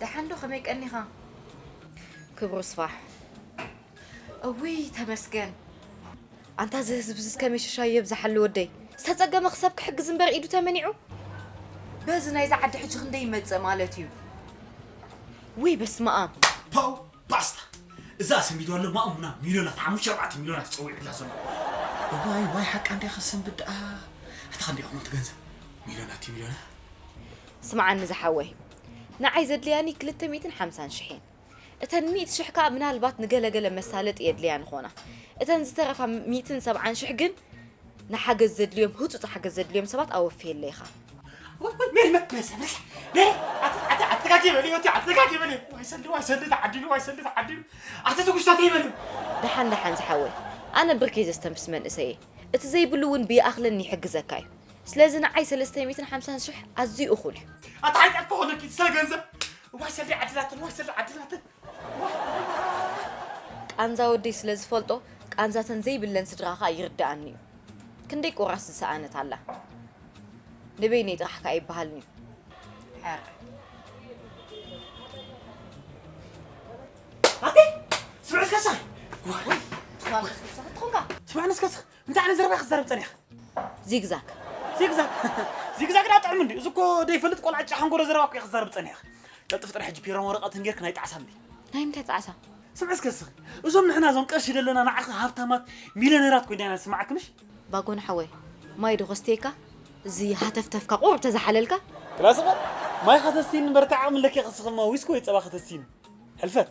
ደሓን ዶ ከመይ ቀኒኻ ክብሩ ስፋሕ እውይ ተመስገን ኣንታ እዚ ህዝቢ እዚ ከመይ ሽሻ የብዝሓሉ ወደይ ዝተፀገመ ክሰብ ክሕግዝ እምበር ኢዱ ተመኒዑ በዚ ናይዚ ዓዲ ሕጂ ክንደይ ይመፅእ ማለት እዩ ውይ በስመ ኣብ ባስታ እዛ ኣሰንቢዱ ኣሎ ማእሙና ሚልዮናት ሓሙሽተ ኣርባዕተ ሚልዮናት ጸዊዑላ ዘሎ እዋይ ዋይ ሓቃ እንድያ ከሰንብድ ድኣ ኣታ ከንደይ ይኸውን እቲ ገንዘብ ሚልዮናት እዩ ሚልዮናት ስምዓኒ ዝሓወይ ንዓይ ዘድልያኒ ክልተ ሚእትን ሓምሳን ሽሕ እየን እተን ሚእቲ ሽሕ ከዓ ምናልባት ንገለገለ መሳለጢ የድልያን ኾና እተን ዝተረፋ ሚእትን ሰብዓን ሽሕ ግን ንሓገዝ ዘድልዮም ህፁፅ ሓገዝ ዘድልዮም ሰባት ኣወፍየለይ ኢኻ ሜሪ መበሰ በሰ ሜሪ ኣትጋጊ በሊ ወቲ ኣትጋጊ በሊ ዋይሰሊ ዋይሰሊ ተዓዲሉ ዋይሰሊ ተዓዲሉ ኣቲ ትጉሽታት ይበሉ ደሓን ደሓን ዝሓወይ ኣነ ብርኪ ዘስተንፍስ መንእሰይ እየ እቲ ዘይብሉ እውን ብይኣኽለኒ ይሕግዘካ እዩ ስለዚ ንዓይ 350 ሽሕ ኣዝዩ እኹል እዩ ኣታ ሓጢኣት ክኾነኪ ስለ ገንዘብ ዋይ ሰሊ ዓድላትን ዋይ ሰሊ ዓድላትን ቃንዛ ወደይ ስለ ዝፈልጦ ቃንዛተን ዘይብለን ስድራኻ ይርድኣኒ እዩ ክንደይ ቁራስ ዝሰኣነት ኣላ ንበይነይ ጥራሕ ከ ኣይበሃልን እዩ ሕር ስምዕስ ከሳ ስምዕንስ ከሳ እንታይ ዓይነት ዘረባ ክትዛረብ ፀኒሕካ ዚግዛግ ዚግዛግ ዚግዛግ ዳ ጥዕም እንዲ እዚ እኮ ደይፈልጥ ቆልዓ ጫ ሓንጎሮ ዘረባ እኮ ክትዛረብ ፀኒሕካ ቀልጥፍ ጥራሕ ሕጂ ፒሮን ወረቐትን ጌርክ ናይ ጣዕሳ እንዲ ናይ ምንታይ ጣዕሳ ስምዕስ ከስኺ እዞም ንሕና እዞም ቀርሺ ደለና ንዓኺ ሃብታማት ሚልዮነራት ኮይና ኢና ንስምዓክምሽ ባጎን ሓወይ ማይ ዶ ከስትየካ እዚ ሃተፍተፍካ ቁሩብ ተዝሓለልካ። ክላስኸ ማይ ከተስቲኒ በርትዕ ዓቅሚ ለኪዕክስ ከማ ዊስኪ ወይ ጸባ ከተስቲኒ ሕልፈት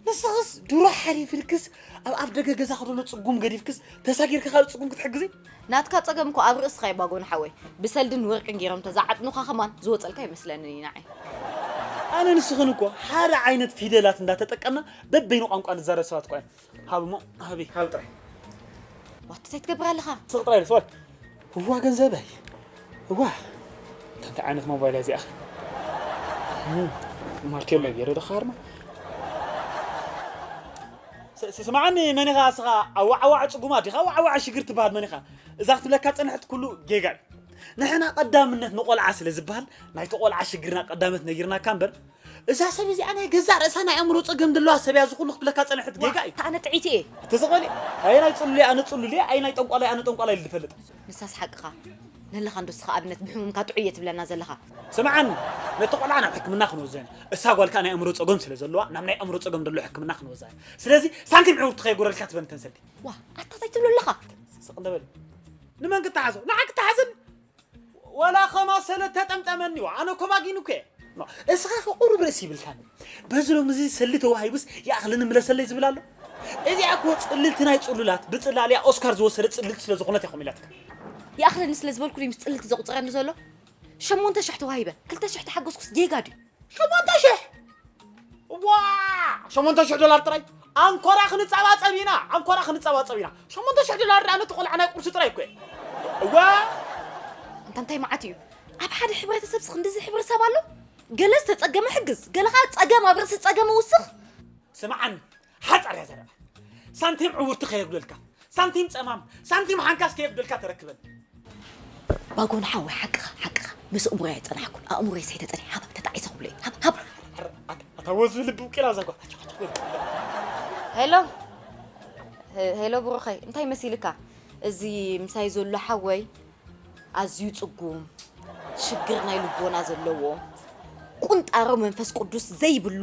ንስኽስ ድሮ ሓሊፍልክስ ኣብ ኣፍ ደገ ገዛኺ ዘሎ ጽጉም ገዲፍክስ ተሳጊርኪ ካልእ ጽጉም ክትሕግዚ ናትካ ጸገም እኮ ኣብ ርእስኻ እዩ ባጎን ሓወይ ብሰልድን ወርቅን ጌሮም እንተዝዓጥኑኻ ከማን ዝወጸልካ ኣይመስለንን እዩ ንዓይ። ኣነን ንስኽን እኮ ሓደ ዓይነት ፊደላት እንዳተጠቀምና በበይኑ ቋንቋ ንዛረብ ሰባት እኳ ኢና። ሃብ እሞ ሃቢ ሃብ ጥራይ ዋት እንታይ ትገብር ኣለኻ ስቕ ጥራይ ኢለ ስወል እዋ ገንዘበይ እዋ እታ እንታይ ዓይነት ሞባይል እያ እዚኣኸ ማርቴሎ ገይረ ዶ ካርማ ስማዓኒ መን ኢኻ እስኻ ኣዋዓዋዕ ፅጉማት ዲኻ ኣዋዓዋዕ ሽግር ትበሃል መን ኢኻ እዛ ክትብለካ ፅንሕት ኩሉ ጌጋ እዩ ንሕና ቀዳምነት ንቆልዓ ስለ ዝበሃል ናይቲ ቆልዓ ሽግርና ቀዳምነት ነጊርናካ እምበር እዛ ሰብ እዚኣ ናይ ገዛእ ርእሳ ናይ ኣእምሮ ጸገም ዘለዋ ሰብ እያ፣ እዚ ኩሉ ክትብለካ ዝጸንሐት ጌጋ እዩ። ኣነ ጥዕይቲ እየ። እቲ ዝቐልየ ኣየናይ ጽሉል እየ፣ ኣነ ጽሉል እየ፣ ኣየናይ ጠንቋላይ ኣነ ጠንቋላይ ኢሉ ዝፈልጥ። ንሳስ ሓቅኻ ነለኻ እንዶ እስኻ ኣብነት ብሕሙምካ ጥዑይ እየ ትብለና ዘለኻ። ስምዓኒ ነቲ ቆልዓ ናብ ሕክምና ክንወስዶ ኢና፣ እሳ ጓል ከኣ ናይ ኣእምሮ ጸገም ስለ ዘለዋ ናብ ናይ ኣእምሮ ጸገም ደሎ ሕክምና ክንወስዳ ኢና። ስለዚ ሳንቲም ዕውርቲ ከየጎደልካ ትበል እተን ሰልዲ። ዋእ ኣታ ታይ ትብሎ ኣለኻ። ስቅ እንተ በል ንመን ክተሓዞ ንዓኪ ተሓዝኒ። ወላ ከማ ሰለ ተጠምጠመኒ ዋ ኣነ ኮባጊኑ ከ እስኻ ቁሩብ ርእሲ ይብልካን በዚ ሎም እዚ ሰሊ ተዋሂቡስ ይኣኽልን ምለሰለይ ዝብል ኣሎ እዚኣ እኮ ጽልልቲ ናይ ጽሉላት ብጽላልያ ኦስካር ዝወሰደ ጽልልቲ ስለ ዝኾነት እያ ኮሚላትካ ይኣኽለኒ ስለ ዝበልኩ ምስ ጽልልቲ ዘቁጽረኒ ዘሎ ሸሞንተ ሽሕ ተዋሂበ ክልተ ሽሕ ተሓጎስኩስ ጌጋ ድዩ ሸሞንተ ሽሕ ዋ ሸሞንተ ሽሕ ዶላር ጥራይ ኣንኮራ ክንጸባጸብ ኢና ኣንኮራ ክንጸባጸብ ኢና ሸሞንተ ሽሕ ዶላር ድኣ ነቲ ቆልዓ ናይ ቁርሲ ጥራይ እኮ እየ እወ እንታ እንታይ መዓት እዩ ኣብ ሓደ ሕብረተሰብስ ክንዲዚ ሕብረተሰብ ኣሎ ገለ ዝተጸገመ ሕግዝ ገለ ከዓ ጸገም ኣብ ርእሲ ጸገም ውስኽ ስምዓኒ ሓፃር እያ ዘረባ ሳንቲም ዕውርቲ ከየጉደልካ ሳንቲም ፀማም ሳንቲም ሓንካስ ከየጉደልካ ተረክበን ባጎን ሓወይ ሓቅኻ ሓቅኻ ምስ እምሮ እያ ፀናሕኩን ኣእምሮይ ሰይተ ፀኒ ሃባ ተጣዒሰ ክብሎ እዩ ሃባ ሃባ ኣታ ወዝ ልቢ ውቂላ ዛጓ ሄሎ ሄ- ሄሎ ብሩኸይ እንታይ መሲልካ እዚ ምሳይ ዘሎ ሓወይ ኣዝዩ ፅጉም ሽግር ናይ ልቦና ዘለዎ ቁንጣሮ መንፈስ ቅዱስ ዘይብሉ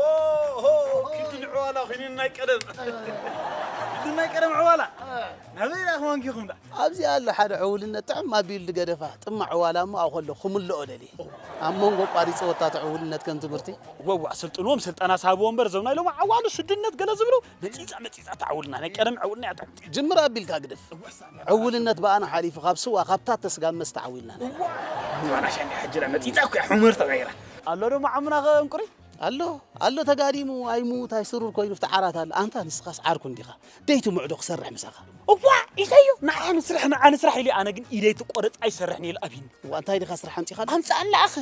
ኦሆ ክንዲ ንዕዋላ ኹይኑ ናይ ቀደም ክንዲ ናይ ቀደም ዕዋላ ናበይ ደኣ ክዋንኪኹም ደኣ ኣብዚ ኣሎ ሓደ ዕውልነት ጥዕም ኣቢሉ ዝገደፋ ጥማዕ ዕዋላ እሞ ኣብኡ ከለኹ ክምልኦ ደልየ ኣብ መንጎ ኣቋሪጸወታ እቲ ዕውልነት ከም ትምህርቲ ወዋእ ስልጥንዎም ስልጠና ሳሃብዎ እምበር እዞም ናይ ሎሚ ዓዋሉ ስድነት ገለ ዝብሉ መጺጻ መጺጻ እታ ዕውልና ናይ ቀደም ዕውልና እያ ትሕቲ። ጅምር ኣቢልካ ግደፍ ዕውልነት ብኣና ሓሊፉ ካብ ስዋ ካብ ታተ ስጋብ መስተ ዓዊልና ኣለና። እዋይ ንባና ሻንዲ ሓጅራ መጺጻ እኮ እያ ሑመር ተቀይራ። ኣሎ ዶ መዓሙና ከ እንቁሪ? ኣሎ ኣሎ ተጋዲሙ ኣይሙት ኣይስሩር ኮይኑ ኣብቲ ዓራት ኣሎ። ኣንታ ንስኻስ ዓርኩ እንዲኻ ደይ ትምዑ ዶ ክሰርሕ ምሳኻ። እዋእ ኢለዮ ንዓኣ ንስራሕ ንዓኣ ንስራሕ ኢለዮ ኣነ ግን ኢደይ ትቆረጽ ኣይሰርሕን ኢየ ኢሉ ኣብዩኒ። እዋእ እንታይ ዲኻ ስራሕ ኣምጺኻሉ። ኣምጽኣላ ኣኸ።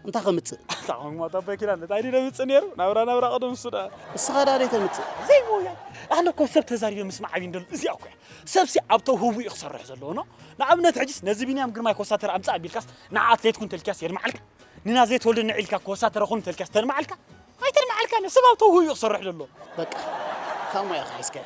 እንታይ ከምጽእ ኣታ ሞት ኣቦይ ኪዳን እንታይ ድዩ ደምጽእ ነይሩ ናብራ ናብራ ቅድም እሱ ደኣ እስኻ ደኣ ደይ ተምጽእ ዘይሞያ ኣነ እኮ ሰብ ተዛሪበ ምስማዕ ዓብዪ እንደሉ እዚኣ እኮ እያ ሰብሲ ኣብ ተውህቡ እዩ ክሰርሕ ዘለዎ ኖ ንኣብነት ሕጂስ ነዚ ቢንያም ግርማይ ኮሳተር ኣምጻእ ኣቢልካስ ንዓ ኣትሌት ኩን ተልካስ የድምዓልካ ንናዝሬ ተወልደ ንዒልካ ኮሳተረ ኩን ተልካስ ተድምዓልካ ኣይተድምዓልካ ነ ሰብ ኣብ ተውህቡ እዩ ክሰርሕ ዘለዎ በቃ ካብ ሞያኻ ሒዝካ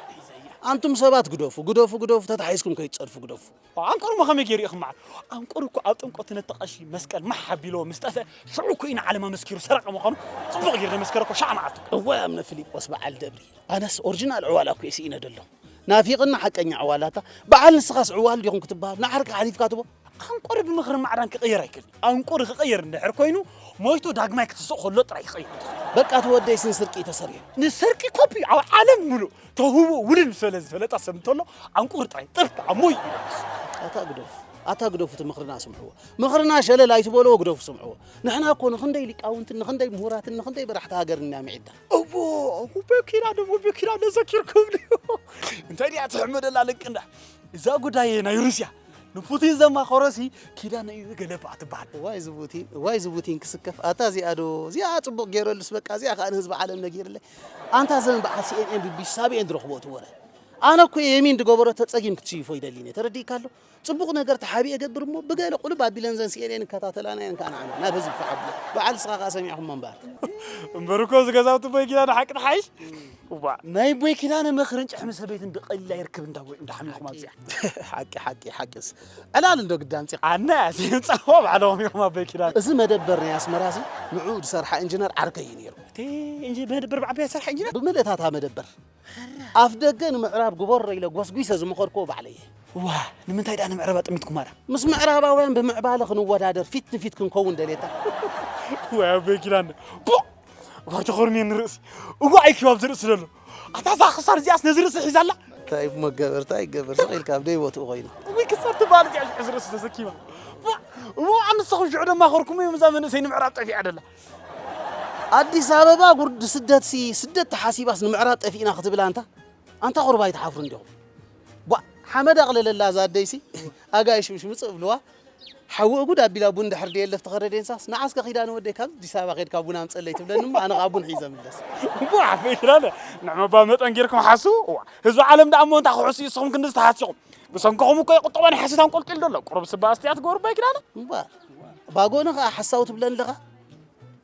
ኣንቱም ሰባት ግደፉ ግደፉ ግደፉ ተታሒዝኩም ከይትጸድፉ ግደፉ ኣንቁርሞ ከመይ ገይሩ እዩ ክመዓት? ኣንቁር እኮ ኣብ ጥምቀቱ ነቲ ቀሺ መስቀል ማሕ ኣቢልዎ ምስ ጠፍአ ሽዑ እኮ እዩ ንዓለም ኣመስኪሩ ሰረቐ ምዃኑ ጽቡቕ ገይሩ ዘመስከረ እኮ ሽዓ መዓልቱ። እዋይ ኣምነ ፍሊጶስ በዓል ደብሪ ኣነስ ኦርጅናል ዕዋላ እኮ እየ ስኢነ ደለኹ ናፊቅና ሓቀኛ ዕዋላታ በዓል ንስኻስ ዕዋል ዲኹም ክትበሃል ንዓርካ ሓሊፍካ ትቦ። ኣንቁር ብምኽሪ ማዕዳን ክቅየር ኣይክእልን እዩ። ኣንቁሪ ክቕይር እንድሕር ኮይኑ ሞይቱ ዳግማይ ክትስእ ከሎ ጥራይ ክቕይሮ ዝኽእል። በቃ እቲ ወደይስ ንስርቂ እዩ ተሰሪሑ። ንስርቂ ኮፒ ኣብ ዓለም ምሉእ ተውህብኡ ውንን ምስ በለ ዝፈለጠ ሰብ እንተሎ ኣንቁሪ ጥራይ ጥርት ኣሞይ ኢሉ ይስእ። ኣታ ግደፉ ኣታ ግደፉ እቲ ምኽርና ስምዕዎ ምኽርና ሸለል ኣይትበልዎ ግደፉ ስምዕዎ ንሕና እኮ ንኽንደይ ሊቃውንትን ንኽንደይ ምሁራትን ንኽንደይ በራሕቲ ሃገርን ኢና ምዒድና እዎ በኪና ደሞ በኪና ነዘኪርኩም ድዩ እንታይ ድያ ትሕመደላ ልቅንዳ እዛ ጉዳይ ናይ ሩስያ ንፑቲን ዘማኸሮሲ ኪዳነ እዩ ገለባዕ ትበሃል እዋይ እዚ ፑቲን እዋይ እዚ ፑቲን ክስከፍ ኣታ እዚኣ ዶ እዚኣ ፅቡቕ ገይረሉስ በቃ እዚኣ ከዓ ንህዝቢ ዓለም ነጊርለይ ኣንታ ዘን በዓል ሲኤንኤን ቢቢሲ ሳቢኤን ዝረኽቦ እቲ ወረ ኣነ እኮ የሚን ዝገበሮ ተፀጊም ክትስይፎ ይደሊ እኔ ተረዲእካ ኣሎ ፅቡቕ ነገር ተሓቢእ እገብር እሞ ብገለ ቁልብ ኣቢለን ዘን ሲኤንኤን ይከታተላና እየን ከዓ ንዓና ናብ ህዝቢ ተሓብሎ በዓል ንስኻ ከዓ ሰሚዕኹሞ እምበር እምበር እኮ እዚ ገዛውቲ ቦይ ጊና ንሓቂ ትሓይሽ እዋእ ናይ ቦይ ኪዳነ ምኽርን ጭሕሚ ሰበይትን ብቐሊል ኣይርክብ እንዳ ቦይ እንዳ ሓሚኹም ኣብዚ ሓቂ ሓቂ ሓቂስ ዕላል እንዶ ግዳን ፂቕ ኣነ ፃዋ ባዕሎም ኢኹም ኣቦይ ኪዳነ እዚ መደበር ናይ ኣስመራ እዚ ንዑ ዝሰርሓ ኢንጂነር ዓርከይ እዩ ነይሩ እቲ እንጂ መደበር ብዓበያ ዝሰርሓ ኢንጂነር ብምልእታታ መደበር ኣፍ ደገ ንምዕራብ ግበሮ ኢለ ጎስጒሰ ዝመኸርክዎ ባዕለይ እየ ዋ ንምንታይ ደኣ ንምዕራብ ኣጠሚትኩም ኣላ ምስ ምዕራባውያን ብምዕባለ ክንወዳደር ፊት ንፊት ክንከውን ደልየታ ወይ ኣቦይ ኪዳነ ቦቕ ዋይ ተኾርምየ ንርእሲ እዋእ ኢልኪ ኣብዚ ርእሲ ዘሎ ኣታ እዛ ክሳር እዚኣስ ነዚ ርእሲ ሒዛ ኣላ እንታይ እሞ ገበር እንታይ ገበር ስቕ ኢልካ ኣብ ደይቦትኡ ኮይኑ እውይ ክሳር ትበሃል እዚኣ ሽዑ ዝርእሲ ተሰኪማ ፋዕ! እሞ ኣንስኹም ሽዑ ድማ ኸርኩም እዮም እዛ መንእሰይ ንምዕራብ ጠፊኣ ደላ ኣዲስ ኣበባ ጉርዲ ስደት ሲ ስደት ተሓሲባስ ንምዕራብ ጠፊእና ክትብል ኣንታ ኣንታ ቁርባ ኣይትሓፍሩ እንዲኹም ቧ ሓመድ ኣቕልለላ እዛ ኣደይሲ ኣጋይሽ ምሽ ምፅእ እብልዋ ሓዊ እጉድ ኣቢላ ቡን ድሕር ደየለፍ ትኸረ ዴንሳስ ንዓስ ከ ኪዳነ ወደይ ካብ ኣዲስ ኣበባ ከድካ ቡን ኣምፀእለይ ትብለኒ እሞ ኣነ ከኣ ቡን ሒዘ ምለስ። እሞ ዓበይ ኪዳነ ንዕምባባ መጠን ጌርኩም ሓስቡ እዋ ህዝቢ ዓለም ደኣ እሞ እንታይ ክሕሱ እዩ እስኹም ክንድዚ ተሃሲኹም ብሰንክኹም እኮ እዩ ቁጠባ ናይ ሓሶት ኣንቆልቂሉ ዘሎ ቁሩብ ስባ ኣስትያት ግበሩ ኣባይ ኪዳነ። እባ ባጎኒ ከኣ ሓሳዊ ትብለኒ ኣለኻ።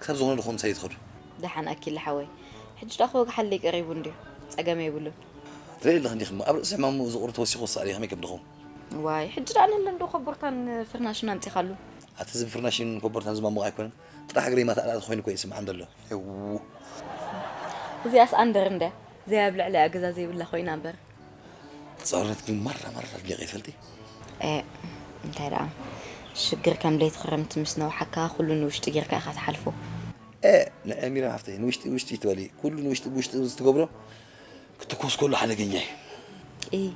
ክሳብ ዝኾነ ድኹም ምሳይ ትኸዱ። ደሓን ኣኪለ ሓወይ ሕጂ ደኣ ክወግሓለይ ቀሪቡ እንድዩ ጸገም የብሉን። ትሪኢ ኣለኺ እንዲኺ እሞ ኣብ ርእሲ ሕማሙ እዚ ቁሪ ተወሲኹ ክሳኣል እዩ ከመይ ከም ድኹም። ዋይ ሕጂ ደኣ ንለ እንዶ ኮቦርታን ፍርናሽን ኣምጺኻሉ። ኣቲ እዚ ብፍርናሽን ኮቦርታን ዝማሞቕ ኣይኮነን ጥራሕ እግረይ ማታ ኣላእቲ ኮይኑ እኮ እዩ ዝስምዓኒ ዘሎ ሄውው። እዚኣስ ኣንደር እንድያ ዘይ ኣብ ልዕሊኣ ገዛ ዘይብላ ኮይና እምበር። ጸርነት ግን ማራ ማራ ኣድኒቐ ይፈልጥ እየ ኤእ እንታይ ደኣ ሽግር ከም ለይቲ ክረምቲ ምስ ነውሓካ ኩሉ ንውሽጢ ጌርካ ኢኻ ትሓልፎ። ኤእ ንዕሚር ሃፍተይ ንውሽጢ ውሽጢ ትበሊ ኩሉ ንውሽጢ ብውሽጢ ምስ ትገብሮ ክትኮስ ከሎ ሓደገኛ እዩ። እይ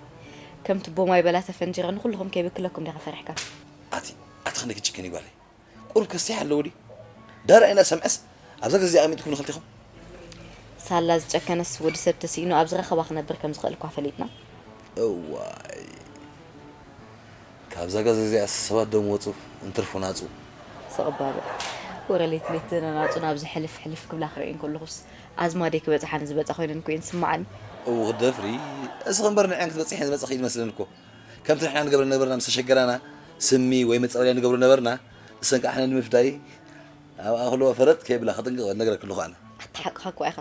ከም ትቦ ማይ በላ ተፈንጂረ ንኩልኹም ከይብክለኩም ዲኻ ፈሪሕካ። ኣቲ ኣቲ ክንደይ ክትጭክኒ ጓለይ። ቁሩብ ከሲሕ ኣለዎ ድዩ ደራይ እና ሰምዐስ ኣብዛ ገዚኣ ኣሚጥኩም ንክልቲኹም ሳላ ዝጨከነስ ወዲ ሰብ ተሲኢኑ ኣብ ዝረኸባ ክነብር ከም ዝኽእል እኳ ፈሊጥና እዋይ ካብዛ ገዛ እዚኣ ሰባት ዶም ወፁ እንትርፉ ናፁ ስቕ ባሉ ወረ ሌት ሌት ዝነናፁ ናብ ዝሕልፍ ሕልፍ ክብላ ክርእየን ከለኹስ ኣዝማደይ ክበፅሓኒ ዝበፃ ኮይነን እኮ እየን ዝስምዓኒ እው ክትደፍሪ እስኺ እምበር ንዐን ክትበፅሕን ዝመፀኺ እዩ ዝመስለን እኮ ከምቲ ንሕና ንገብረ ዝነበርና ምስ ተሸገራና ስሚ ወይ መጻወድያ ንገብሮ ነበርና፣ እሰን ከኣ ሕነ ንምፍዳይ ኣብ ኣኽሎ ፈረጥ ከይብላ ከጥንቅቐ ዝነግረክ ኣለኹ ኣነ። ኣታ ሓቅኻ እኳ ኢኻ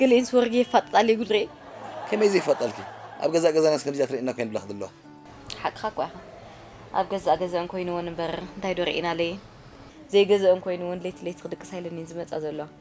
ገሊኤንስ ወርጊ የፋጥጣ ኣለይ ጉድ ሪኤ። ከመይ ዘይፋጣልኪ ኣብ ገዛእ ገዛናስ ከምዚ እያ ትርእየና እኳ እየን ዝብላኺ ዘለዋ። ሓቅኻ እኳ ኢኻ ኣብ ገዛእ ገዘኣን ኮይንወን እምበር እንታይ ዶ ሪኤና ኣለየን። ዘይገዘኣን ኮይንወን ለይቲ ለይቲ ክድቅሳ ኢለን እየን ዝመጻ ዘለዋ።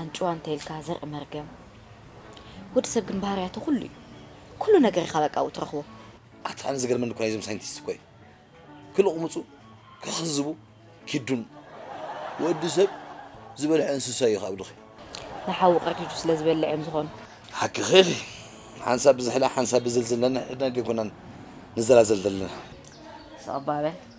ኣንጭዋ እንተኢልካ ዘርኢ መርገም። ወዲ ሰብ ግን ባህርያቱ ኩሉ እዩ ኩሉ ነገር ኢካ በቃ ኣብኡ ትረክቦ። ኣቲ ኣነ ዝገርመኒ እኮ ናይዞም ሳይንቲስት እኮ እዩ ክልቕምፁ ክኽዝቡ ኪዱን ወዲ ሰብ ዝበልዐ እንስሳ እዩ ካብ ድኺ። ንሓዉ ቀርዲዱ ስለ ዝበልዕ እዮም ዝኾኑ። ሓቅኺ ኢኺ ሓንሳብ ብዝሕላ ሓንሳብ ብዝልዝል ነንሕድና ከይኮናን ንዘላዘል ዘለና። ስቕ እባ በል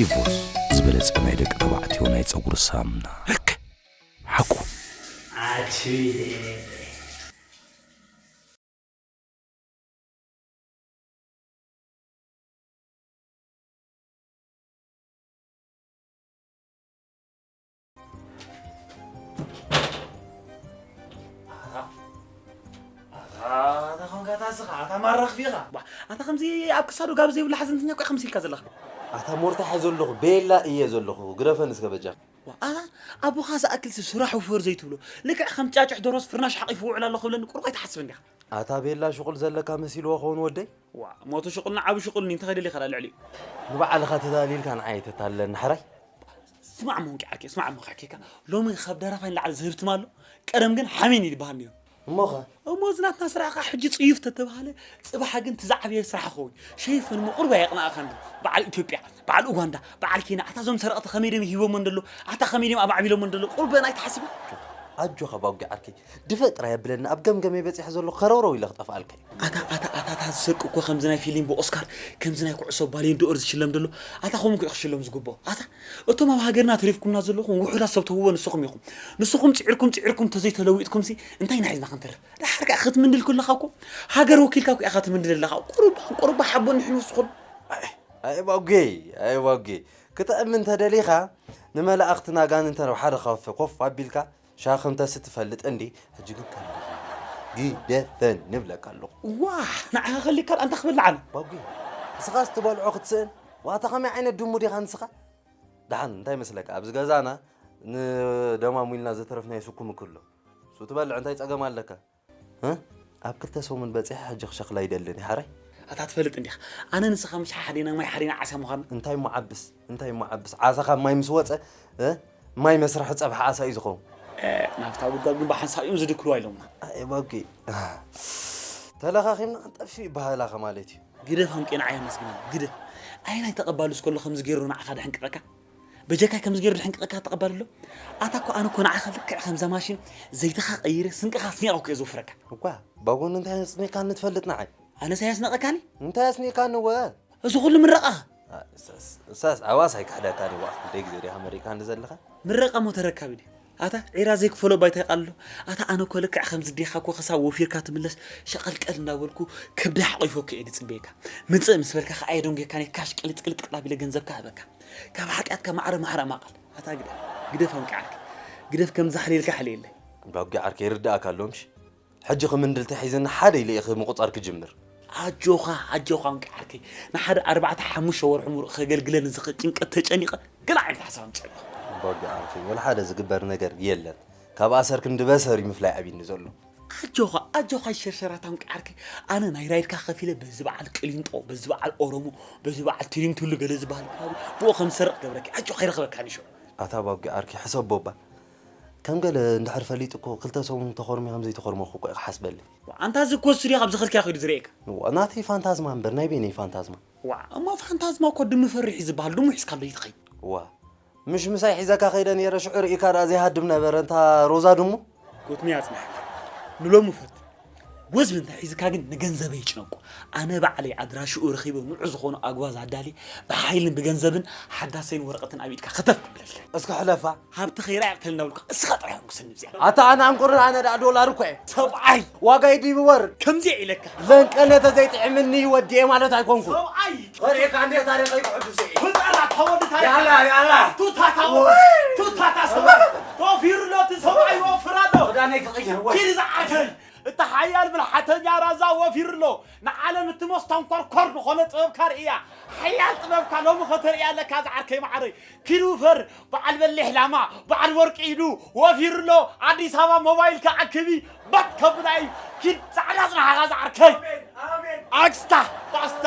ኢቮስ ዝበለጸ ናይ ደቂ ተባዕትዮ ናይ ጸጉሪ ሳምና ርክ ሓቁ ኣታ ከምዚ ኣብ ክሳዱ ጋብ ዘይብሉ ሓዘንተኛ እኮ ከምዚ ኢልካ ዘለኻ ኣታ ሞርታ ሕዞ ኣለኹ ቤላ እየ ዘለኹ ግረፈን እስከ በጃ ኣታ ኣቦኻ ዝኣክል ስራሕ ውፈር ዘይትብሎ ልክዕ ከም ጫጭሕ ዶሮስ ፍርናሽ ሓቂፉ ውዕል ኣለኹ ብለኒ ቁርቆይ ትሓስብ እንዲኻ ኣታ ቤላ ሽቁል ዘለካ መሲልዎ ከውን ወደይ። ዋእ ሞቱ ሽቁል ን ዓቢ ሽቁል ን እንታይ ከይደልካ ድኣ ልዕሊኡ። ንባዕልኻ ተታሊልካ ንዓይ ኣይተታልለኒ ሕራይ። ስማዕ እሞ እንቂዓኪ ስማዕ እሞ ከሕኬካ ሎሚ ካብ ደራፋይ ንላዕሊ ዝህብትም ኣሎ ቀደም ግን ሓሜን እዩ ዝበሃል ነይሩ እሞኸ እሞ እዚ ናትና ስራሕ ከዓ ሕጂ ፅዩፍ ተተባሃለ ፅባሕ ግን እቲ ዝዓበየ ስራሕ ክኸውን እዩ ሸይፈን እሞ ቁርብ ኣየቕንኣኻን ዶ በዓል ኢትዮጵያ በዓል ኡጋንዳ በዓል ኬንያ ኣታ እዞም ሰረቕቲ ከመይ ድዮም ሂቦሞ እንደሎ ኣታ ከመይ ድዮም ኣማዕቢሎሞ እንደሎ ቁርብ ኣን ኣይትሓስብን ኣጆኻ ባጒ ዓርከይ ድፈእ ጥራይ ኣብለኒ ኣብ ገምገመይ በጺሐ ዘለኹ ከረውረው ኢለ ክጠፍኣልካ እዩ። ኣታ ኣታ ኣታ ኣታ ዝሰርቂ እኮ ከምዚ ናይ ፊሊም ብኦስካር ከምዚ ናይ ኩዕሶ ባልዮን ዶኦር ዝሽለም ደሎ ኣታ ከምኡ እኮ እዩ ክሽለም ዝግብኦ ኣታ እቶም ኣብ ሃገርና ተሪፍኩምና ዘለኹም ውሑዳት ሰብ ትህብዎ ንስኹም ኢኹም ንስኹም ጺዒርኩም ጺዒርኩም እንተዘይ ተለዊጥኩምሲ እንታይ ኢና ሒዝና ክንተርፍ ደሓር ከኣ ክትምንድል ከለኻ እኮ ሃገር ወኪልካ እኮ ኢኻ ትምንድል ኣለኻ ቁሩባ ቁሩባ ሓቦ ንሕን ወስኹን ኣይ ኣይ ባጉየይ ኣይ ባጉየይ ክጥዕም እንተደሊኻ ንመላእኽትን ኣጋንንትን ኣብ ሓደ ካውፌ ኮፍ ኣቢልካ ሻኽ እንተስ ትፈልጥ እንዲ ሕጂ ግን ከልጊ ግደፈን ንብለካ ኣለኹ። ዋሕ ንዓኻ ከልጊ ካልኣ እንታይ ክበልዕ ኣነ። ባጉየ ንስኻስ ትበልዖ ክትስእን ዋታ ከመይ ዓይነት ድሙ ዲኻ ንስኻ። ደሓን እንታይ ይመስለካ ኣብዚ ገዛና ንደማሙ ኢልና ዘተረፍናዮ ስኩምኪ ኣሎ እሱ ትበልዕ እንታይ ጸገም ኣለካ። ኣብ ክልተ ሰሙን በጺሐ ሕጂ ክሸክል ኣይደልን እየ ሓራይ። ኣታ ትፈልጥ እንዲኻ ኣነ ንስኻ ምሽ ሓዲና ማይ ሓዲና ዓሳ ምዃንና። እንታይ እሞ ዓብስ እንታይ እሞ ዓብስ ዓሳ ካብ ማይ ምስ ወጸ ማይ መስርሒ ጸብሒ ዓሳ እዩ ዝኸውን። ናብታ ጉድጓድ ግን ብሓንሳብ እዮም ዝድክልዋ ኢሎምና። ኣይ ባጊ ተለኻኺምና ክንጠፍእ እዩ ባህላኸ ማለት እዩ። ግደፍ ኣንቄ ንዓይ ኣመስግነኒ ግደፍ። ኣየናይ ተቐባሊ እስከሎ ከምዚ ገይሩ ንዓኻ ደሕንቅቐካ? በጀካ ከምዚ ገይሩ ዝሕንቅቀካ ተቐባሊ ኣሎ ኣታ እኮ ኣነ እኮ ንዓኻ ልክዕ ከምዛ ማሽን ዘይትኻ ቀይረ ስንቅኻ ኣስኒቐኩ እየ ዝውፍረካ እኳ ባጎን እንታይ ኣስኒቕካኒ ትፈልጥ ንዓይ ኣነስ ኣየስነቐካኒ እንታይ ኣስኒቕካኒ ወ እዚ ኩሉ ምረቓ እሳስ ዓዋስ ኣይክሕደካን እየ ዋእ ክንደይ ግዜ ዲኻ መሪቕካኒ ዘለኻ ምረቓ እሞ ተረካቢ ድዩ ኣታ ዒራ ዘይክፈሎ ባይታ ይቃልሎ ኣታ ኣነ እኮ ልክዕ ከምዚ ዲካ እኮ ክሳብ ወፊርካ ትምለስ ሸቀልቀል እንዳበልኩ ከብደይ ሓቂፎኪ እየ ድጽበየካ ምጽእ ምስ በልካ ከኣ የደንጉየካኒ ካሽ ቅልጥ ቅልጥ ቅላብ ኢለ ገንዘብካ ህበካ ካብ ሓጥያትካ ማዕረ ማዕረ ማቀል ኣታ ግደፍ ግደፍ ኣንቂ ዓርኪ ግደፍ ከምዚ ሓልየልካ ሓልየለይ። እንዳ ኣቡጊ ዓርከይ ይርደኣካ ኣሎ ምሽ። ሕጂ ክምንድል ተሒዝኒ ሓደ ኢለ ኢኺ ምቁጻር ክጅምር። ኣጆኻ ኣጆኻ ወንጌ ዓርከይ ንሓደ ኣርባዕተ ሓሙሽተ ወርሑ ምሉእ ከገልግለኒ ዝኽእል ጭንቀት ተጨኒቐ ገለ ዓይነት ሓሳብ ኣምጺኣለኹ። ቦርጌ ዓርከይ ወልሓደ ዝግበር ነገር የለን ካብ ኣሰር ክንዲ በሰር እዩ ምፍላይ ዓብይኒ ዘሎ። ኣጆኻ ኣጆኻ ኣይሸርሸራታ ወንጌ ዓርከይ ኣነ ናይ ራይድካ ከፊለ በዚ በዓል ቅሊንጦ በዚ በዓል ኦሮሞ በዚ በዓል ትሪንቱሉ ገለ ዝበሃል ከባቢ ብኡ ከም ዝሰርቕ ክገብረኪ ኣጆኻ ይረኽበካ ንሸው። ኣታ ቦርጌ ዓርከይ ሕሰቦ እባ ከም ገለ እንድሕር ፈሊጡ እኮ ክልተ ሰሙን ተኾርምየ ከም ዘይተኾርመኩ እኮ እዩ ክሓስበለይ። ዋእ ኣንታ እዚ እኮ ስቱድዮ ካብ ዝኸድካዮ ከይዱ ዝርእየካ። ዋእ ናተይ ፋንታዝማ እምበር ናይ በይነይ ፋንታዝማ። ዋእ እሞ ፋንታዝማ እኮ ድሙ ፈሪሕ እዩ ዝብሃል ድሙ ሒዝካሉ ኣይትኸይድ። ዋእ ምሽ ምሳይ ሒዘካ ከይደ ነይረ ሽዑ ርኢካ ድኣ ዘይሃድም ነበረ እንታ ሮዛ ድሙ። ጎትኒ ኣጽናሕካ ንሎሚ ፈትን። ወዝቢ እንተ ሒዝካ ግን ንገንዘበይ ይጭነቁ ኣነ ባዕለይ ኣድራሽኡ ረኺበ ንዑ ዝኾኑ ኣጉባዝ ኣዳልየ ብሓይልን ብገንዘብን ሓዳሰይን ወረቀትን ኣብ ኢድካ ከተፍ ከብለልካ። እስከ ሕለፋ ሃብቲ ከይረኣየ ቅተለኒ ኣብልካ እስኻ ጥራይ ሕጉሰኒ ብዚኣ። ኣታ ኣነ ኣንቁርር ኣነ ዳኣ ዶላር እኮ እየ ሰብኣይ ዋጋይ ድዩ ብወርቅ ከምዚኣ ኢለካ። ለንቀነ ተዘይጥዒምኒ ወዲኤ ማለት ኣይኮንኩን። ሰብኣይ። ወሪሕካ እንዴት ታሪኸይ ክሕድሱ እዩ ፍጠራት ተወዲ ታሪክ ያላ ያላ ቱታ ታወ ቱታ ታሰወ ጦፊሩ ሎ ትሰብኣይ ወፍራ ሎ ክዳነይ ክቕይር ወይ ኪድ ዝዓተር እቲ ሓያል ብልሓተኛ ራዛ ወፊሩ ሎ ንዓለም እቲ መስተንኮርኮር ዝኾነ ጥበብካ ርእያ ሓያል ጥበብካ ሎሚ ከተርእያ ኣለካ ዝዓርከይ መዓረይ ኪሩፈር በዓል በሊሕ ላማ በዓል ወርቂ ኢዱ ወፊሩ ኣሎ ኣዲስ ኣበባ ሞባይልካ ኣክቢ ባጥ ከብላ እዩ ኪድ ጻዕዳ ጽንሓኻ ዝዓርከይ ኣክስታ ባስታ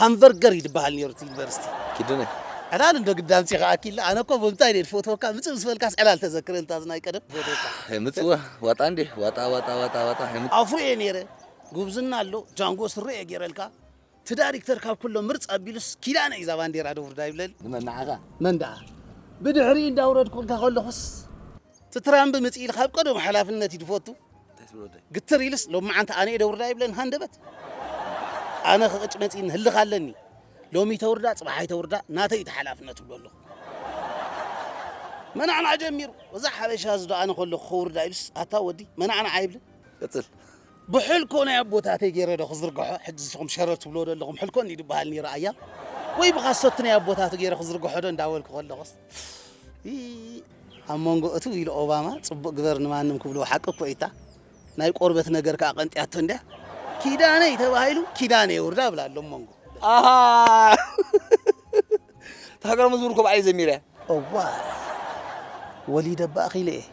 ሃምቨርገር እዩ ድበሃል ኔሩ እቲ ዩኒቨርሲቲ። ኪዱነ ዕላል እንዶ ግዳ ኣምጺኻ ኣኪላ ኣነ እኮ ብምንታይ ድየ ድፈትወካ ምጽእ ምስ በልካስ ዕላል ተዘክረኒ እታ ናይ ቀደም ክፈትወካ። ሀይ ምጽዋ ዋጣ እንድየ ዋጣ ዋጣ ዋጣ ዋጣ ሀይ ምጽዋ። ኣፍሮ እየ ኔረ ጉብዝና ኣሎ ጃንጎ ስረ እየ ጌረልካ እቲ ዳሪክተር ካብ ኩሎም ምርጽ ኣቢሉስ ኪዳነ እዩ እዛ ባንዴራ ደውርዳ ይብለኒ። ንመን ንዓኻ? መን ደኣ ብድሕሪኡ እንዳውረድኩልካ ከለኹስ። እቲ ትራምብ ምጽኢልካ ኣብ ቀደሙ ሓላፍነት እዩ ድፈቱ። ግትር ኢልስ ሎምዓንቲ ኣነ'የ ደውርዳ ይብለን ሃንደበት። ኣነ ክቕጭ መጺእኒ ህልኽ ኣለኒ። ሎሚ ተውርዳ ጽባሕ ኣይተውርዳ ናተይ'ዩ እቲ ሓላፍነት እብሎ ኣለኹ። መናዕናዕ ጀሚሩ። እዚ ሓበሻ እዚዶ ኣነ ከለኹ ከውርዳ ኢሉስ ኣታ ወዲ መናዕናዕ ኣይብልን። ቀጽል። ብሕልኮ ናይ ኣቦታተይ ገይረዶ ክዝርግሖ ሕጂ ንስኹም ሸረር ትብልዎዶ ኣለኹም ሕልኮ እንዲዱ ይብሃል ነይሩ ኣያ ወይ ብኻሶቲ ናይ ኣቦታቱ ገይረ ክዝርግሖዶ እንዳበልኩ ከለኹስ ኣብ መንጎ እቱ ኢሉ ኦባማ ጽቡቅ ግበር ንማንም ክብልዎ ሓቂ እኮ እይታ ናይ ቆርበት ነገር ከኣ ቀንጥያቶ እንድያ ኪዳነይ ተባሂሉ ኪዳነ የውርዳ ብላ ኣሎ መንጎ ኣሃ እታ ሃገራዊ መዝሙር እኮ ባዕለይ ዘሚረያ እዋ ወሊደ እባ ኣኺለ እየ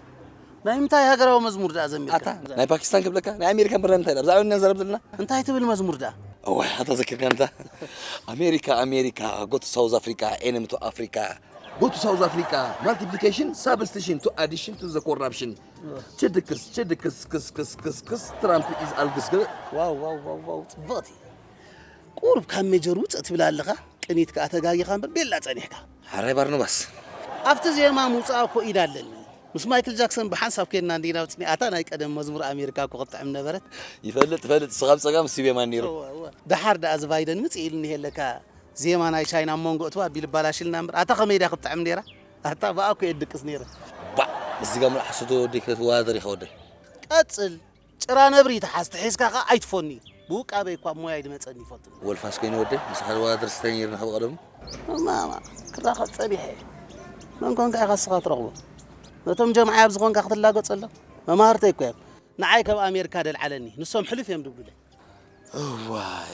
ናይ ምንታይ ሃገራዊ መዝሙር ደኣ ዘሚርካ? ኣታ ናይ ፓኪስታን ክብለካ ናይ ኣሜሪካ ብርና ምንታይ ብዛዕባ ን ንዛረብ ዘለና እንታይ ትብል መዝሙር ደኣ? እዋይ ኣታ ዘኪርካኒ ኣታ ኣሜሪካ ኣሜሪካ ጎ ቱ ሳውዝ ኣፍሪቃ ኤነሚ ቱ ኣፍሪቃ ጎ ቱ ሳውዝ ኣፍሪቃ ማልቲፕሊኬሽን ሳብስቲሽን ቱ ኣዲሽን ቱ ዘ ኮራፕሽን ችድክስ ችድክስ ክስ ክስ ክስ ክስ ትራምፕ ኢዝ ኣልግስ ዋውዋውዋው ጽብቕቲ ቁሩብ ካብ ሜጀር ውጽእ ትብል ኣለኻ ቅኒት ከኣ ተጋጊኻ እምበር ቤላ ጸኒሕካ ሓራይ ባርኖባስ ኣብቲ ዜማ ምውጻእ እኮ ኢድ ኣለኒ ምስ ማይክል ጃክሰን ብሓንሳብ ኬድና እንዲና ወጺእና ኣታ ናይ ቀደም መዝሙር ኣሜሪካ እኮ ክትጥዕም ነበረት። ይፈልጥ ይፈልጥ ንስኻ ብጸጋም ንሱ ብየማን ኔሩ። እወ እወ ደሓር ደኣ እዚ ቫይደን ምጽእ ኢሉ እኒሄ ለካ ዜማ ናይ ቻይና ኣብ መንጎ እትው ኣቢሉ ኣባላሽልና እምበር ኣታ ከመይ ድያ ክትጥዕም ኔራ ኣታ ብኣ እኮ እየ ድቅስ ኔረ። ባእ ምስዚ ጋም ላሕ ስዶ ወደይ ክትዋዳደር ኢኺ ወደይ። ቀጽል ጭራ ነብሪ ትሓዝ ተሒዝካ ከኣ ኣይትፎኒ ብውቃበይ እኳ ሞያይ ድመጸኒ ይፈልጥ። ወልፋስ ኮይነ ወደይ ምስ ሓደ ወላድር ስታይ ነይርና ካብ ቐደሙ። እማ ክራኸብ ጸኒሐ መን ኮንካ ኢኻ እስኻ ትረኽቦ ነቶም ጀምዓይ ኣብዚ ኮንካ ክትላገጸሎም መማህርተይ እኮ እዮም ንዓይ ከም ኣሜርካ ደልዓለኒ ንሶም ሕልፍ እዮም ድብሉለይ እዋይ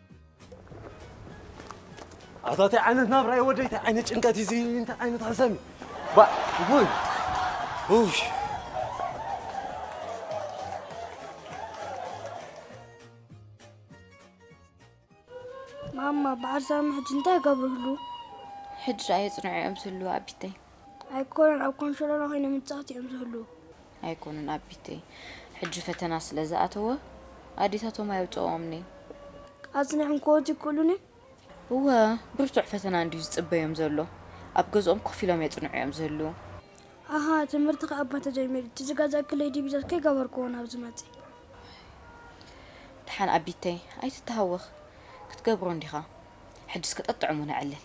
ኣታ እንታይ ዓይነት ናብራ እዩ ወደይ እንታይ ዓይነት ጭንቀት እዩ እዚ እንታይ ዓይነት ሓሳብ እዩ ባ ውይ ውይ ማማ ብዓርሳም ሕጂ እንታይ ገብርህሉ ሕጂ ድኣ የፅንዑ እዮም ዝህልዉ ኣቢተይ ኣይኮኑን ኣብ ኮንሸሎሎ ኮይኖም ይጻወቱ እዮም ዝህልዉ። ኣይኮኑን ኣቢተይ ሕጂ ፈተና ስለ ዝኣተወ ኣዴታቶም ኣየውጽኦኦምን'የን። ኣጽኒዕም ክወጹ ይክእሉን'ዮም። እወ ብርቱዕ ፈተና እንድዩ ዝጽበዮም ዘሎ። ኣብ ገዝኦም ኮፍ ኢሎም የጽንዑ እዮም ዝህልዉ። ኣሃ ትምህርቲ ከኣ እባ ተጀሚሩ እቲ ዝገዛእክለይ ዲቢዛ ከይገበርክዎ ናብ ዝመጽእ። ድሓን ኣቢተይ ኣይትተሃወኽ ክትገብሮ እንዲኻ ሕጅስ ከጠጥዕሙ ነዕልል።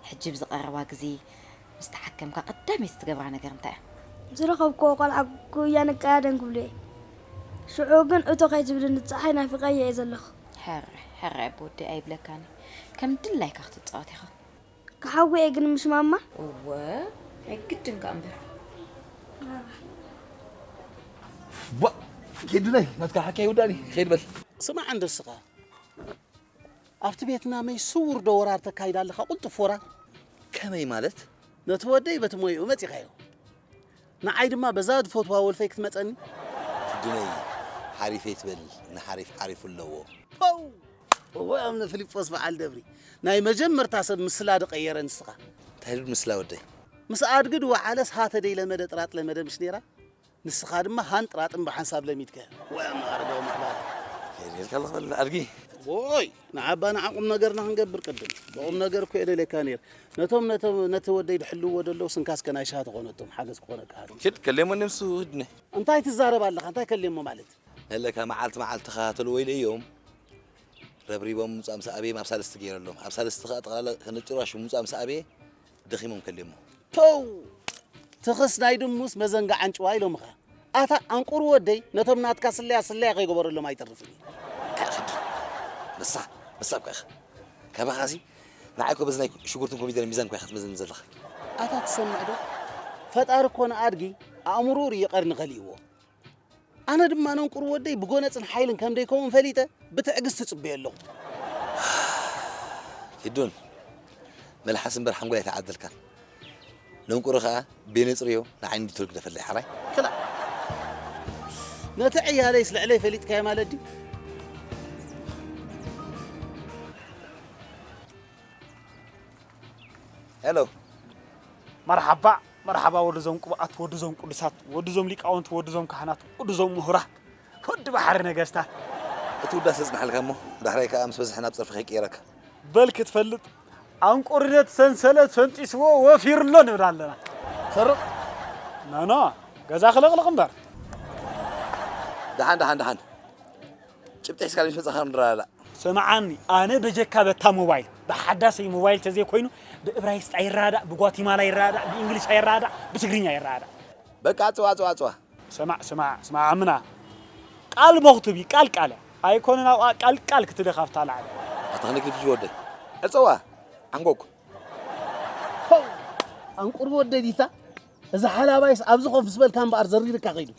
ሕጂ ኣብዚ ቀረባ ግዜ ምስ ተሓከምካ ቀዳመይቲ ትገብራ ነገር እንታይ እያ? ዝረኸብክዎ ቆልዓ ጉያ ንቀያደም ክብሉ እየ። ሽዑ ግን እቶ ከይትብልኒ ጸሓይ ናፊቐያ እየ ዘለኹ። ሕራይ ሕራይ ኣቦ ወደይ ኣይብለካን እዩ። ከም ድላይካ ክትጻወት ኢኻ። ክሓዊ እየ ግን ምስ ማማ። እወ ናይ ግድን ከኣ እምበር። ቧእ! ኪዱለይ ናትካ ሓካይ ውዳኒ ኺድ በል። ስማዕ እንዶ እስኻ! ኣብቲ ቤትናመይ ስዉር ዶ ወራር ተካይድ ኣለኻ ቁልጡፍ ወራር። ከመይ ማለት? ነቲ ወደይ በቲ ሞይኡ መጺኻዮ ንዓይ ድማ በዛ ዝፈትዋ ወልፈይ ክትመጸኒ? ትድነይ ሓሪፍ ኣይትበል ንሓሪፍ ሓሪፉ ኣለዎ። ፖው! እወ እምነ ፍሊጶስ በዓል ደብሪ ናይ መጀመርታ ሰብ ምስላ ድቀየረ ንስኻ። እንታይ ዶ ምስላ ወደይ? ምስ ኣድጊ ድወዓለስ ሃተ ደይለመደ ጥራጥ ለመደ ምሽ ነይራ? ንስኻ ድማ ሃንጥራጥም ብሓንሳብ ለሚድከ ወይ ኣመቓሪ ደው ምባል። ከይደልካ ኣለኹ በለና ኣድጊ። ዎይ ንዓባ ንዓ ቁምነገርና ክንገብር ቅድም ብቁምነገር እኮ እየ ደልየካ ነይረ ነቶም ነቶም ነቲ ወደይ ድሕልውዎ ደለዉ ስንካስከ ናይ ሽሃ ተኾነቶም ሓገዝ ክኾነካ ሃሎ። ኪድ ከሌሞ ንሱ ህድነ። እንታይ ትዛረብ ኣለኻ እንታይ ከሌሞ ማለት። ለለካ መዓልቲ መዓልቲ ክከታተልዎ ኢለ እዮም ረብሪቦም ምምጻእ ምስ ኣበየ ኣብ ሳልስቲ ገይረሎም ኣብ ሳልስቲ ከኣ ጠቕላላ ከነጭሩ ኣሹ ምምጻእ ምስ ኣበየ ደኺሞም ከልዮሞ። ፖው! ትኽስ ናይ ድሙስ መዘንግዕ ኣንጭዋ ኢሎምኻ። ኣታ ኣንቁር ወደይ ነቶም ናትካ ስለያ ስለያ ከይገበረሎም ኣይተርፍን እዩ። ንሳ ንሳ እኳ ኢኻ ካባኻ'ዚ ንዓይ እኮ በዚ ናይ ሽጉርትን ኮሚደረን ሚዛን እኳ ኢኻ ትመዝነኒ ዘለኻ። ኣታ ትሰምዕ ዶ ፈጣሪ እኮ ንኣድጊ ኣእምርኡ ርዩ ቀርኒ ከሊእዎ። ኣነ ድማ ነንቁር ወደይ ብጎነጽን ሓይልን ከም ደይከውን ፈሊጠ ብትዕግስቲ ጽበዮ ኣለኹ። ኪዱን መልሓስ እምበር ሓንጎል ኣይተዓደልካን። ነንቁሪ ከኣ ቤነጽርዮ ንዓይኒ ድቶል ግደፈለይ ሓራይ። ክላ ነቲ ዕያለይስ ልዕለይ ፈሊጥካዮ ማለት ድዩ? ሄሎ መርሓባ መርሓባ ወዲ ዞም ቅቡኣት ወዲ ዞም ቅዱሳት ወዲ ዞም ሊቃውንት ወዲ ዞም ካህናት ወዲ ዞም ምሁራት ወዲ ባሕሪ ነገስታት። እቲ ውዳሰ የጽንሓልካ እሞ ዳሕራይ ከኣ ምስ በዝሐ ናብ ጸርፊ ከይቅየረካ። በል ክትፈልጥ ኣንቁርደት ሰንሰለት ፈንጢስዎ ወፊሩ ኣሎ ንብል ኣለና። ሰርቕ ኖኖ ገዛ ክልቕልቕ እምበር። ደሓን ደሓን ደሓን። ጭብጢ ሒዝካ ሎሚ መጻኻ ክንረዳዳእ። ስምዓኒ ኣነ በጀካ በታ ሞባይል ብሓዳሰይ ሞባይል ተዘይ ኮይኑ ብእብራይስጥ ኣይረዳዳእ ብጓቲማላ ይረዳዳእ ብእንግሊሽ ኣይረዳዳእ ብትግርኛ ይረዳዳእ። በቃ ኣጽዋ ኣጽዋ ኣጽዋ። ስማዕ ስማዕ ስማዕ ኣምና ቃል ቦኽ ትብይ ቃል ቃል ኣይኮነን ኣብኣ ቃል ቃል ክትደኽ ኣብታ ላዕሊ። ኣታ ክንደይ ክልፍልፍ ወደይ ዕጸዋ ዓንጎግ። ፖው ኣንቁርብ ወደይ ዲታ። እዚ ሓላባይስ ኣብዚ ኮፍ ምስ በልካ እምበኣር ዘሪርካ ከይዱ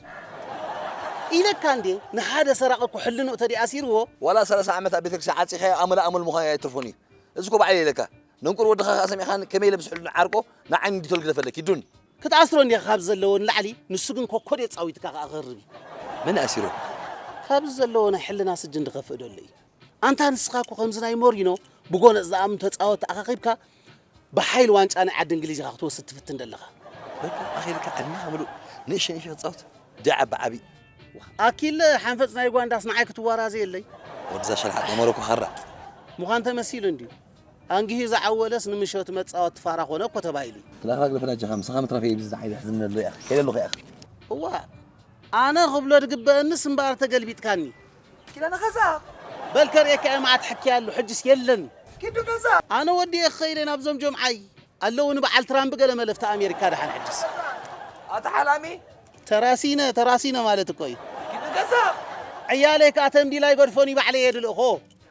ኢለካ እንዴ ንሓደ ሰራቂ እኮ ሕልንኡ ተድዩ ኣሲርዎ። ዋላ ሰላሳ ዓመት ኣብ ቤተክርስትያን ዓጺኻዮ ኣመለ ኣመሉ ምዃኑ ኣይትርፎን እዩ እዚ እኮ ባዕለይ ኢለካ ነንቁር ወድኻ ከኣ ሰሚዕኻኒ ከመይ ኢለ ምስ ሕልኑ ዓርቆ ንዓይኒ ዲቶል ግደፈለኪ ዱን ክትኣስሮ እንዲኻ ካብዚ ዘለዎ ንላዕሊ ንሱ ግን ኮኮድ የጻዊትካ ከኣ ክህርብ እዩ። መን ኣሲሩ? ካብዚ ዘለዎ ናይ ሕልና ስጅን ድኸፍእ ደሎ እዩ ኣንታ ንስኻ እኮ ከምዚ ናይ ሞሪኖ ብጎነጽ ዝኣምን ተጻወቲ ኣኻኺብካ ብሓይሊ ዋንጫ ናይ ዓዲ እንግሊዝ ኢኻ ክትወስድ ትፍትን ዘለኻ። በቃ ኣኺልካ ዕድመኻ ምሉእ ንእሽተይ ንእሽተይ ክትጻወት ድያ ዓቢ ዓቢ። ኣኪለ ሓንፈጽ ናይ ዩጋንዳስ ንዓይ ክትዋራዘየለይ። ወድዛ ሸልሓጥ ናይ ሞሮኮ ካራ። ምዃን ተመሲሉ እንድዩ። ኣንጊሁ ዝዓወለስ ንምሸቱ መጻወቲ ፋራ ኮነ እኮ ተባሂሉ እዩ። ትላኻ ግደፈኒ ኣጀኻ ምሳኻ ምትራፈይ እዩ ብዝዝሓ ኢለ ሕዝኒ ኣሎ ያኺ ከይደለኹ ያኺ። እዋእ ኣነ ክብሎ ድግበእንስ እምበኣር ተገልቢጥካኒ። ኪዳነ ከዛብ። በል ከርእየካ'የ መዓት ሕክያሉ ሕጅስ የለን እዩ። ኪዱ ከዛብ። ኣነ ወዲኤ ክኸይድ እየ ናብዞም ጀምዓይ። ኣለዉ ንበዓል ትራምብ ገለ መለፍቲ ኣሜሪካ ደሓን ሕጅስ። ኣታ ሓላሚ። ተራሲነ ተራሲነ ማለት እኮ እዩ። ኪዱ ከዛብ። ዕያለይ ከኣ ተምዲላ ኣይገድፎን እዩ ባዕለይ እየ ድልእኮ።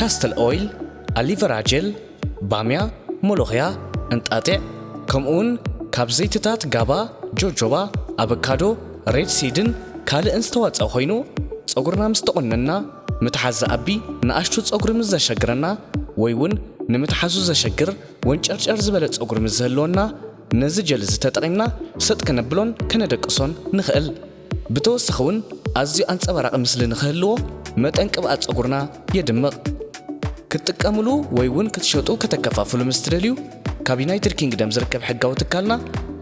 ካስትል ኦይል፣ ኣሊቨራ ጀል፣ ባምያ፣ ሞሎኽያ፣ እንጣጢዕ፣ ከምኡውን ካብ ዘይቲታት ጋባ፣ ጆጆባ፣ ኣበካዶ፣ ሬድ ሲድን ካልእን ዝተዋጸእ ኮይኑ ጸጉርና ምስ ተቆነንና ምትሓዝ ዝኣቢ ንኣሽቱ ጸጉሪ ምስ ዘሸግረና ወይ ውን ንምትሓዙ ዘሸግር ወንጨርጨር ዝበለ ጸጉሪ ምስ ዝህልወና ነዚ ጀል እዚ ተጠቒምና ሰጥ ከነብሎን ከነደቅሶን ንኽእል። ብተወሳኺ ውን ኣዝዩ ኣንጸባራቒ ምስሊ ንኽህልዎ መጠን ቅብኣት ጸጉርና የድምቕ። ክትጥቀምሉ ወይ ውን ክትሸጡ ከተከፋፍሉ ምስ ትደልዩ ካብ ዩናይትድ ኪንግደም ዝርከብ ሕጋዊ ትካልና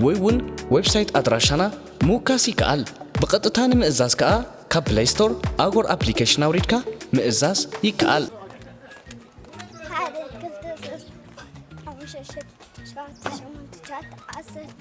ወይ ውን ዌብሳይት ኣድራሻና ምውካስ ይከኣል። ብቐጥታ ንምእዛዝ ከኣ ካብ ፕለይ ስቶር ኣጎር ኣፕሊኬሽን ኣውሪድካ ምእዛዝ ይከኣል። ሓደ ክልተ ሶስት ሓሙሽተ ሽዱሽተ ሸውዓተ ሸሞንተ ትሽዓተ ዓሰርተ።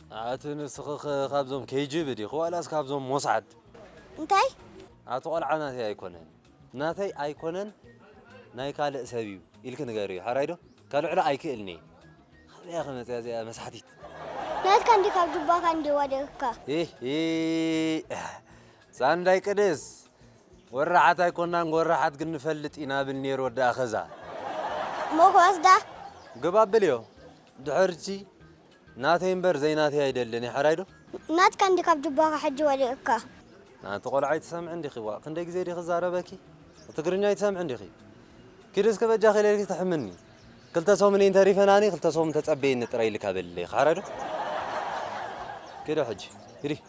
ኣቲ ንስኺኸ ካብዞም KGB ዲኺ ዋላስ ካብዞም ሞሳድ? እንታይ? ኣቲ ቆልዓ ናተይ ኣይኮነን። ናተይ ኣይኮነን ናይ ካልእ ሰብ እዩ ኢልኪ ንገርዮ ሐራይ ዶ? ከልዕሎ ኣይክእልንየ። ካበይ እያ ከ መጽያ እዚኣ መስሓቲት? ናትካ እንዲ ካብ ጁባካ እንዲ ወዲቅካ። ሂሂ ሳንዳይ ቅድስ ወራሓት ኣይኮናን ጎራሓት ግን ንፈልጥ ኢና ብል ነይሩ ወዲ ኣኸዛ። እሞ ክወስዳ? ግባ ኣብልዮ ድሕርቲ ናተይ እምበር ዘይናተይ ኣይደልን እየ ሐራይ ዶ። ናትካ እንዲ ካብ ጁባኻ ሕጂ ወሊዑካ። ኣንቲ ቆልዓ ኣይትሰምዕን ዲኺ ዋእ ክንደይ ግዜ ድየ ክዛረበኪ ትግርኛ ኣይትሰምዕን ዲኺ ኪዲ እስከ በጃኺ ኢለልኪ ትሕምኒ ክልተ ሰሙን እየን ተሪፈናኒ ክልተ ሰሙን ተጸበይኒ ጥራይ ኢልካ በልለይ ሐራይ ዶ ኪዲ ሕጂ ኪዲ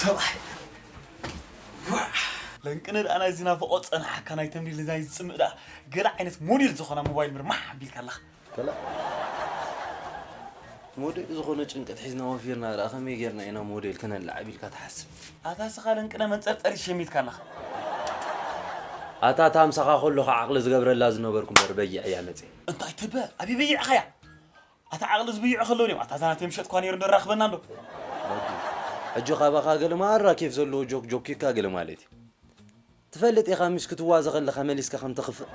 ሰብኣይ ለንቅነ ደኣ ናይዚ ናፍቖ ፀናሓካ ናይ ተምሪ ልዛይ ዝፅምእ ደኣ ገለ ዓይነት ሞዴል ዝኾና ሞባይል ምርማሕ ኣቢልካ ኣለኻ ከላእ ሞዴል ዝኾነ ጭንቀት ሒዝና ወፊርና ደኣ ከመይ ጌርና ኢና ሞዴል ክነላዕብ ኢልካ ትሓስብ ኣታ ስኻ ለንቅነ መንጸርጸሪ ሸሚትካ ኣለኻ ኣታ እታ ምሳኻ ከለኹ ዓቕሊ ዝገብረላ ዝነበርኩ እምበር በይዕ እያ መጽ እንታይ ትበ ኣበይ በይዕኻያ ኣታ ዓቕሊ ዝብይዑ ከለዉ ድዮም ኣታ ዛናተይ ምሸጥኳ ነይሩ ንራኽበና እንዶ ሕጂ ካባኻ ገለ ማራ ኬፍ ዘለዎ ጆክ ጆኪካ ገለ ማለት እዩ ትፈልጥ ኢኻ ምሽ ክትዋዘ ከለኻ መሊስካ ከም ተኽፍእ።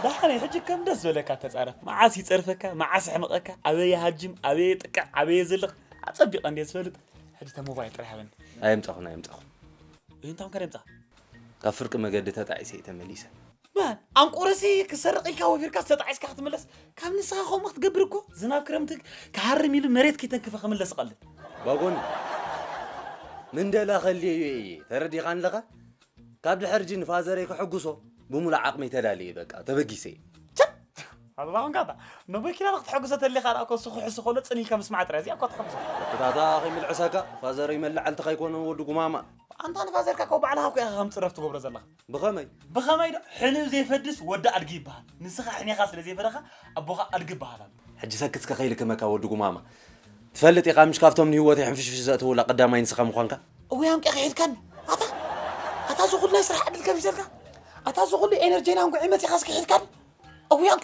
ዳሓረይ ሕጂ ከም ደስ ዝበለካ ተጻረፍ ማዓስ ይጸርፈካ ማዓስ ይሕምቀካ ኣበይ ይሃጅም ኣበይ የጥቅዕ ኣበይ የዝልቅ ኣጸቢቀ እንድየ ዝፈልጥ ሕጂ እታ ሞባይል ጥራይ ሃበኒ። ኣየምጻኹን ኣየምጻኹን። እንታይ ኮንካ ደምጻ? ካብ ፍርቂ መገዲ ተጣዒሰ እዩ ተመሊሰ። በል ኣንቁረሲ ክሰርቕ ኢልካ ወፊርካስ ተጣዒስካ ክትምለስ ካብ ንስኻ ከምኡ ክትገብር እኮ ዝናብ ክረምቲ ክሃርም ኢሉ መሬት ከይተንክፈ ክምለስ ይቐልል ባጎኒ ምንደላ ከልየዮ እየ ተረዲኻን ኣለኻ ካብ ድሕርጂ ንፋዘረይ ከሐጉሶ ብሙሉእ ዓቕመይ ተዳልየ በቃ ተበጊሰ እየ ኣላ ኮንካ እታ ንበኪና ንክትሕግዞ ተሊኻ ደኣ ኮሱ ክሕሱ ከሎ ጽን ኢልካ ምስማዕ ጥራይ እዚኣ እኳ ትሕግዞ ወጥታታ ከይምልዕሰካ ፋዘረይ መላዕልትኻ ኣይኮነን ወዲ ጉማማ ኣንታ ንፋዘርካ እኮ ባዕልኻ እኮ ኢኻ ከም ጽረፍ ትገብሮ ዘለኻ ብኸመይ? ብኸመይ ዶ? ሕንኡ ዜፈድስ ወዲ ኣድጊ ይበሃል። ንስኻ ሕኔኻ ስለ ዘይፈደኻ፣ ኣቦኻ ኣድጊ እበሃል ኣሎ። ሕጂ ሰክት እስከ ከይልክመካ ወዲ ጉማማ። ትፈልጥ ኢኻ ምሽ ካብቶም ንህይወተይ ሕንፍሽፍሽ ዘእተዉላ ቀዳማይ ንስኻ ምዃንካ። እውይ ኣንቂኻ ሒድካኒ ኣታ ኣታ እዚ ኩሉ ናይ ስራሕ ዕድል ከፊተልካ ኣታ እዚ ኩሉ ኤነርጀይን ኣንጉዔ መጺኻ እስኪ ሒድካኒ እውይ ኣንቂ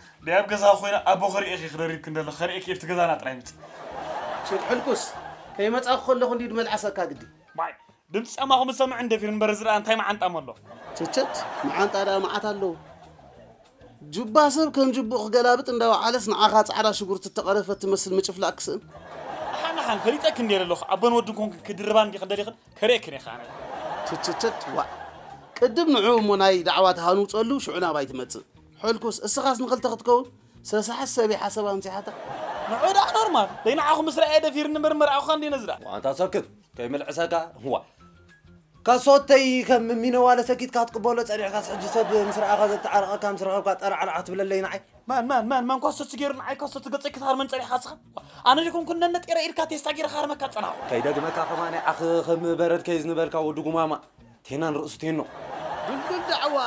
ደይ ኣብ ገዛኺ ኮይነ ኣቦ ክርእየኪ ክደርብኪ እንደለኩ ከርእየኪ ኣብቲ ገዛና ጥራይ ምጽእ። ሽት ሕልኩስ ከይመጻኩ ከለኩ እንድዩ ድመልዓሰካ ግዲ። ማይ ድምጺ ጫማኹም ዝሰምዕ እንደፊር እምበር እዚ ደኣ እንታይ መዓንጣ እሞ ኣሎ። ቸቸት መዓንጣ ደኣ መዓት ኣለዉ። ጁባ ሰብ ከም ጁቡኡ ክገላብጥ እንዳወዓለስ ንዓኻ ጻዕዳ ሽጉርቲ እተቐረፈት ትመስል ምጭፍላቕ ክስእን። ኣሓን ኣሓን ፈሊጠክን ኔረ ኣለኹ ኣቦን ወድን ኮንክን ክድርባን እንዲኽን ደሊኽን ከርእየክን ኢየ ከኣ ኣነ። ቸቸቸት ዋእ ቅድም ንዑ እሞ ናይ ዳዕዋ ተሃንውጸሉ ሽዑ ናባይ ትመጽእ። ሕልኩስ እስኻስ ንክልተ ክትከውን ሰሳሓት ሰብ እየ ሓሳብ ኣምጺሓታ። ንዑ ደኣ ኖርማል ደይ ንዓኹም ምስ ረኣየ ደፊርኒ እምበር መርዓኹካ እንድየ ነዝራ። ኣንታ ሰክት ከይምልዕሰካ ዋእ ካሶተይ ከም ሚነዋለ ሰኪትካ ትቅበሎ ጸኒሕካስ ሕጂ ሰብ ምስ ረኣኻ ዘተዓርቀካ ምስ ረኸብካ ጠራዕራዕ ክትብለለይ ንዓይ። መን መን መን መን ካሶቲ ጌሩ ንዓይ ካሶቲ ገጸይ ክትሃርመኒ ጸኒሕካ ንስኻ ዋእ ኣነ ዘይኮንኩን ነነጢረ ኢድካ ቴስታ ጌረ ክሃርመካ ዝጸናሕኩ። ከይደግመካ ከማን ይዓኽ ኽም በረድ ከይዝንበልካ ወዲ ጉማማ። ቴናን ርእሱ ቴኖ። ድልዱል ዳዕዋ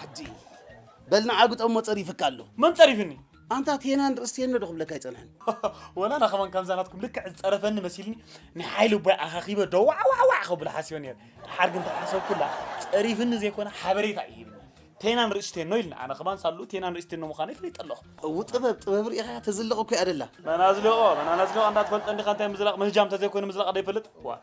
ሕጂ በል ንዓ ግጠሞ ጸሪፍካ ኣሎ። መን ጸሪፍኒ? ኣንታ ቴናን ርእሲ ቴኖ ዶ ክብለካ ኣይጸንሐን። ወላ ኣነ ከማን ከምዛ ናትኩም ልክዕ ዝጸረፈኒ መሲልኒ ናይ ሓይሊ ኣቦይ ኣኻኺበ ዶ ዋዕዋዕዋዕ ከብሎ ሓሲበ ነይረ። ድሓር ግን ተሓሰብኩላ ጸሪፍኒ ዘይኮነ ሓበሬታ እዩ ሂብኒ። ቴናን ርእሲ ቴኖ ኢልኒ። ኣነ ከማን ሳሉ ቴናን ርእሲ ቴኖ ምዃነይ ፈሊጠ ኣለኹ። እው ጥበብ ጥበብ ርኢኻ ተዝልቕ እኮ'ያ ደላ። መን ኣዝሊቖ መን ኣነዝሊቖ እንዳትፈልጠ እንዲኻ እንታይ ምዝላቕ ምህጃም ተዘይኮይኑ ምዝላቕ ደይፈልጥ ዋእ።